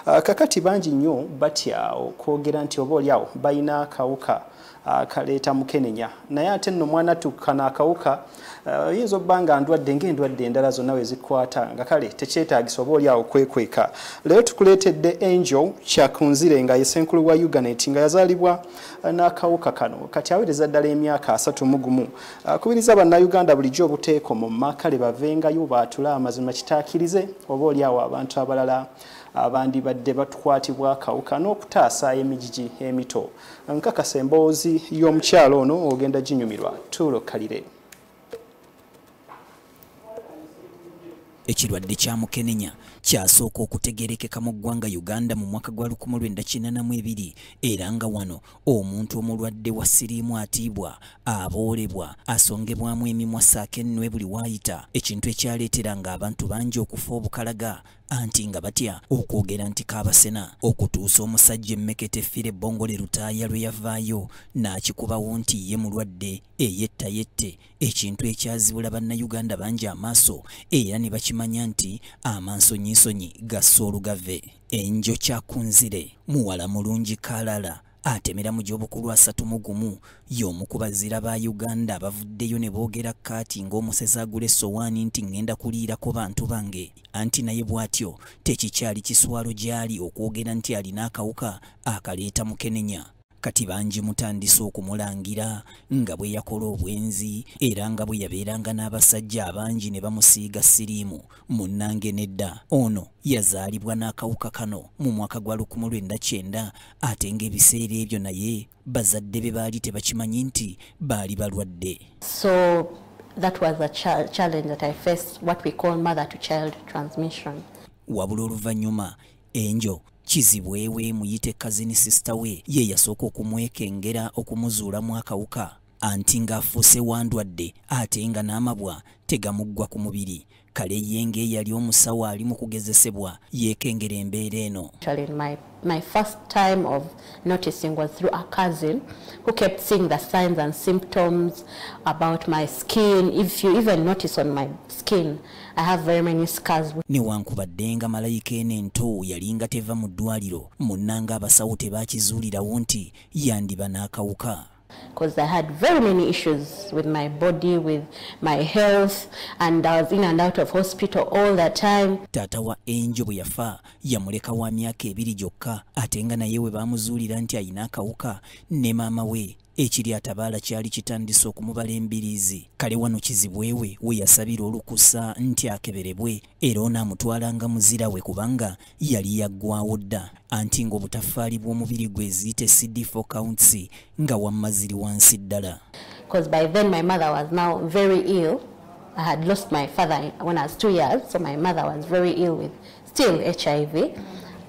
Ah, kakati bangi nnyo batya okwogera nti oba olyawo balina akawuka ah, kaleeta mukenenya naye ate nno mwana tukana akawuka ah, oyinza obba nga ndwadde ngaendwadde endala zonna we zikwata nga kale tekyetagisa oba olyawo kwekweka leero tukuleetedde angel kyakunzire nga yesenkulu wa uganet nga yazaalibwa n'akawuka kano kati awereza ddala emyaka asatu mugumu Akubiriza bannayuganda bulijjo obuteeko mu makale bavengayo baatule amazima kitaakirize oba oli awo abantu abalala abandibadde batukwatibwa akawuka n'okutaasa emijiji emito. Nkakasa emboozi y'omukyalo ono ogenda ginyumirwa tuulo kalire. ekirwadde kya mukenenya kyasooka okutegerekeka mu ggwanga uganda mu mwaka gwa 1982 era nga wano omuntu omulwadde wa siriimu atiibwa aboolebwa asongebwamu emimwa saako ennwe buli waayita ekintu ekyaleetera nga abantu bangi okufa obukalaga anti nga batya okwogera nti kaabasena okutuusa omusajja emmekete fire bongole lutaaya lwe yavaayo n'akikubawo nti ye mulwadde eyettayette ekintu ekyazibula bannayuganda bangi amaaso era ne bakimanya nti amansonyinsonyi gassa olugave enjo kyakunzire muwala mulungi kalala atemera mu gy'obukulu asatu mu gumu y'omu ku bazira ba uganda abavuddeyo ne boogera kaati ng'omusezi agula essowaani nti ŋŋenda kuliirako bantu bange anti naye bw'atyo tekikyali kiswalo gy'ali okwogera nti alina akawuka akaleeta mukenenya kati bangi mutandise okumulangira nga bwe yakola obwenzi era nga bwe yabeeranga n'abasajja abangi ne bamusiiga siriimu munnange nedda ono yazaalibwa n'akawuka kano mu mwaka gwa lukumu lwenda kyenda ate ng'ebiseera ebyo naye bazadde be baali tebakimanyi nti baali balwadde so that was a challenge that i faced what we call mother to child transmission wabula oluvannyuma enjo kizibwe we muyite kazini sisita we ye yasooka okumwekengera okumuzuulamu akawuka anti ng'afuuse wandwadde ate nga n'amabwa tegamuggwa ku mubiri kale ye ng'eyali omusawo ali mu kugezesebwa yeekengera embeera eno My first time of noticing was through a cousin who kept seeing the signs and symptoms about my skin. If you even notice on my skin, I have very many scars. Newankubadde nga malayika eno ento yalinga teva mu ddwaliro, munnanga abasawo tebaakizuulirawo nti yandiba n'akawuka. Because I had very many issues with my body, with my health, and I was in and out of hospital all the time. Tata wa Angel bwe yafa yamuleka wa myaka ebiri gyokka ate nga naye we baamuzuulira nti alina akawuka ne maama we ekiri atabaala kyali kitandise okumubala embiriizi kale wano kizibwewe we yasabira olukusa nti akeberebwe era onaamutwalanga muzira we kubanga yali yaggwawo dda anti ng'obutaffaali bw'omubiri gwe eziyita cd4 counts nga wamma ziri wansi ddala I had lost my father when I was two years, so my mother was very ill with still HIV,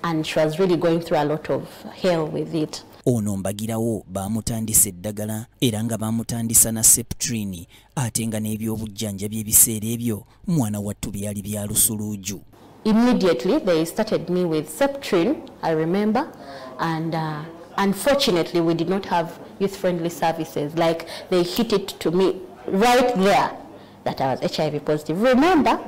and she was really going through a lot of hell with it. Ono mbagirawo baamutandisa eddagala era nga baamutandisa na septrini ate nga n'ebyobujjanja by'ebiseera ebyo mwana wattu byali bya lusuluuju. Immediately they started me with septrin, I remember, and uh, unfortunately we did not have youth friendly services like they hit it to me right there that I was HIV positive. Remember?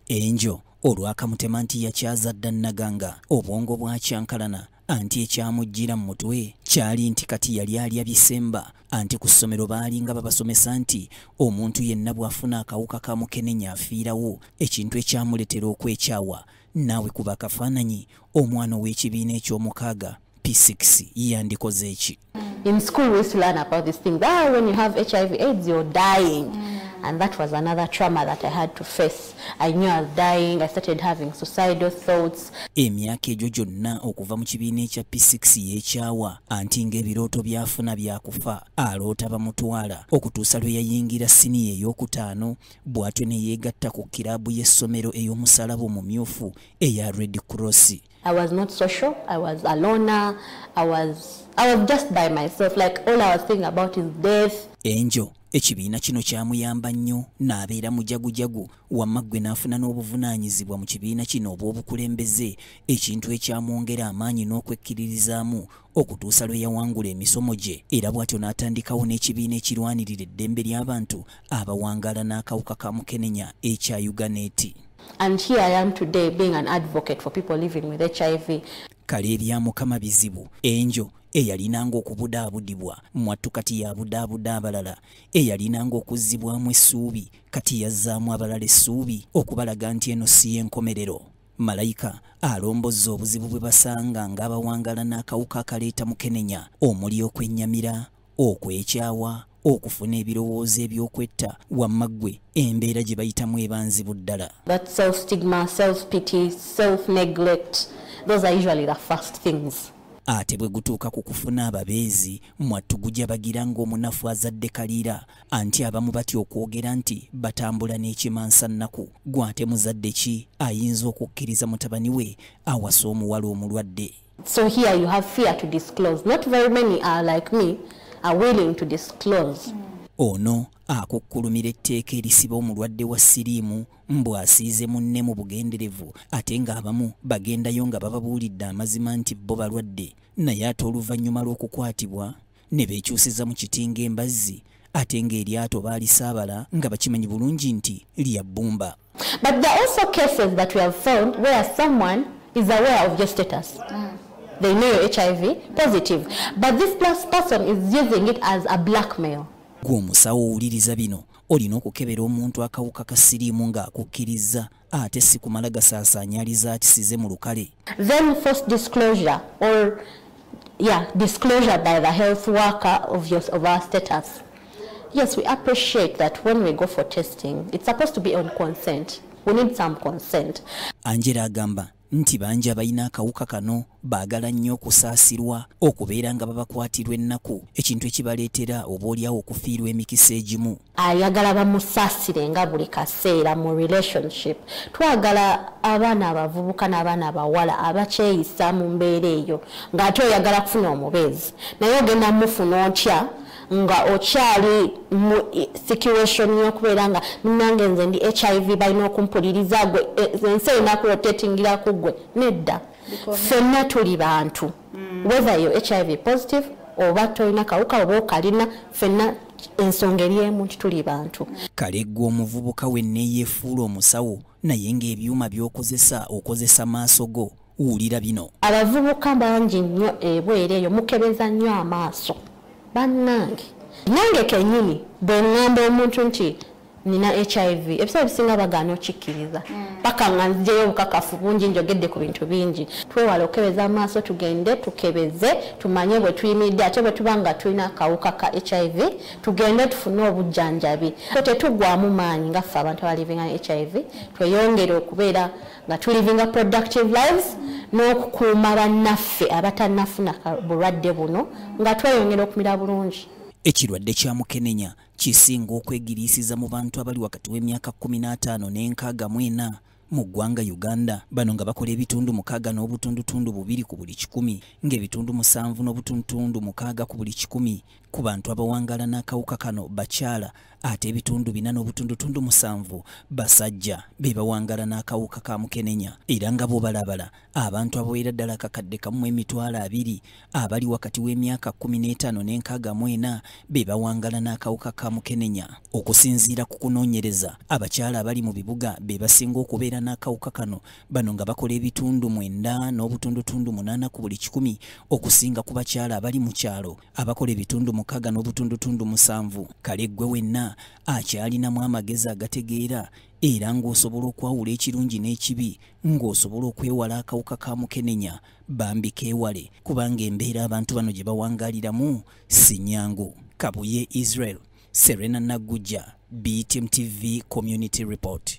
Angel olwakamutema nti yakyaza dda naganga obwongo bwakyankalana anti ekyamujjira mu mutwe kyali nti kati yali alya bisemba anti ku ssomero baalinga babasomesa nti omuntu yenna bw'afuna akawuka ka mukenenya afiirawo ekintu ekyamuletera okwekyawa naawe kuba akafaananyi omwana ow'ekibiina eky'omukaaga p6 yandikoze eki in school we used to learn about this thing that ah, when you have hiv aids you're dying mm. and that was another trauma that i had to face i knew i was dying i started having suicidal thoughts emyaka egyo gyonna okuva mu kibiina ekya p6 yekyawa anti ng'ebirooto byafuna byakufa aloota bamutwala okutuusa lwe yayingira siniya ey'okutaano bw'atyo ne yeegatta ku kiraabu y'essomero ey'omusalaba omumyufu eya red cross I was not social. I was a loner. I was I was just by myself. Like all I was thinking about is death. Angel ekibiina kino kyamuyamba nnyo n'abeera mujagujagu wamma ggwe n'afuna n'obuvunaanyizibwa mu kibiina kino obw'obukulembeze ekintu ekyamwongera amaanyi n'okwekkiririzaamu okutuusa lwe yawangula emisomo gye era bw'atyo n'atandikawo n'ekibiina ekirwanirira eddembe ly'abantu abawangaala n'akawuka ka mukenenya ekya uganeti And here I am today being an advocate for people living with HIV. Kale ebya mukama bizibu enjo eyalinanga okubudaabudibwa mwattu kati yabudaabuda abalala eyalinanga okuzzibwamu essuubi kati yazzaamu abalala essuubi okubalaga nti eno si y'enkomerero malayika alombozza obuzibu bwe basanga ng'abawangala n'akawuka akaleeta mukenenya omuli okwennyamira okwekyawa okufuna ebirowoozo ebyokwetta wamma ggwe embeera gye bayitamu eba nzibu ddala ate bwe gutuuka ku kufuna ababeezi mwattu gujabagiranga omunafu azadde kaliira anti abamu batya okwogera nti batambula n'ekimansa nnaku gw'ate muzadde ki ayinza okukkiriza mutabani we awasa omuwala omulwadde so here you have fear to disclose not very many are like me are willing to disclose mm. ono akukkulumira etteeka erisiba omulwadde wa siriimu mbu asiize munne mu bugenderevu ate ng'abamu bagendayo nga bababuulidde amazima nti bo balwadde naye ate oluvannyuma lw'okukwatibwa ne beekyusiza mu kiti ng'embazzi ate ng'eryato baalisaabala nga bakimanyi bulungi nti lya bbumba But there are also cases that we have found where someone is aware of your status. Mm. They know your HIV positive. But this plus person is using it as a blackmail. Gwomusawo owuliriza bino olina okukebera omuntu akawuka ka siriimu ng'akukkirizza ate si kumala gasaasaanya aliza akisize mu lukale then force disclosure or yeah disclosure by the health worker of your of our status yes we appreciate that when we go for testing it's supposed to be on consent we need some consent angela agamba nti bangi abalina akawuka kano baagala nnyo okusaasirwa okubeera nga babakwatirwa ennaku ekintu ekibaleetera obaolyawo okufiirwa emikisa egimu ayagala bamusaasire nga buli kaseera mu relationship twagala abaana abavubuka n'abaana abawala abakyeyisa mu mbeera eyo ng'ate oyagala kufuna omubeezi naye ogenda mufuna otya nga okyali mu situation yokubeera nga munange nze ndi hiv balina okumpuliriza gwe e, ensi erina kurotatingira ku gwe nedda fenna tuli bantu mm. whether yo hiv positive oba tolina kawuka oba okalina fenna ensonga eri emu nti tuli bantu kale gwe omuvubuka wenneyefuula omusawo naye ng'ebyuma by'okozesa okozesa maaso go wulira bino abavubuka bangi nnyo ebweru eyo mukebeza nnyo amaaso bannange nange kenyini bwe ŋŋamba omuntu nti nina hiv ebiseera ebisinga bagaana okikkiriza hmm. paka nga nzijeyo obukakafu bungi njogedde ku bintu bingi twewala okukebeza amaaso tugende tukebeze tumanye bwe tuyimiridde ate bwe tuba nga tulina akawuka ka hiv tugende tufune obujjanjabi so tetugwamu maanyi ngaffe abantu abalivinga ne hiv tweyongere okubeera mm. nga tulivinga productive lives n'okukuuma bannaffe abatanafuna bulwadde buno nga tweyongera okumira bulungi ekirwadde kya mukenenya kisinga okwegiriisiza mu bantu abali wakati w'emyaka 15 n'enkaaga mu ena mu ggwanga uganda bano nga bakola ebitundu mukaaga n'obutundutundu bubiri ku buli kikumi ng'ebitundu musanvu n'obutundutundu mukaaga ku buli kikumi ku bantu abawangala n'akawuka kano bakyala ate ebitundu bina n'obutundutundu musanvu basajja be bawangala n'akawuka ka mukenenya era nga bwobalabala abantu abawera ddala kakadde kamu emitwalo abiri abali wakati w'emyaka kumi n'etaano n'enkaaga mu ena be bawangala n'akawuka ka mukenenya okusinziira ku kunoonyereza abakyala abali mu bibuga be basinga okubeera n'akawuka kano bano nga bakola ebitundu mwenda n'obutundutundu munaana ku buli kikumi okusinga ku bakyala abali mu kyalo abakola ebitundu mukaga n'obutundutundu musanvu kale ggwe wenna akyalinamu amagezi agategeera era ng'osobola okwawula ekirungi n'ekibi ng'osobola okwewala akawuka ka mukenenya bambi keewale kubanga embeera abantu bano gye bawangaliramu si nyangu kabuye israel serena naggujja btm tv community report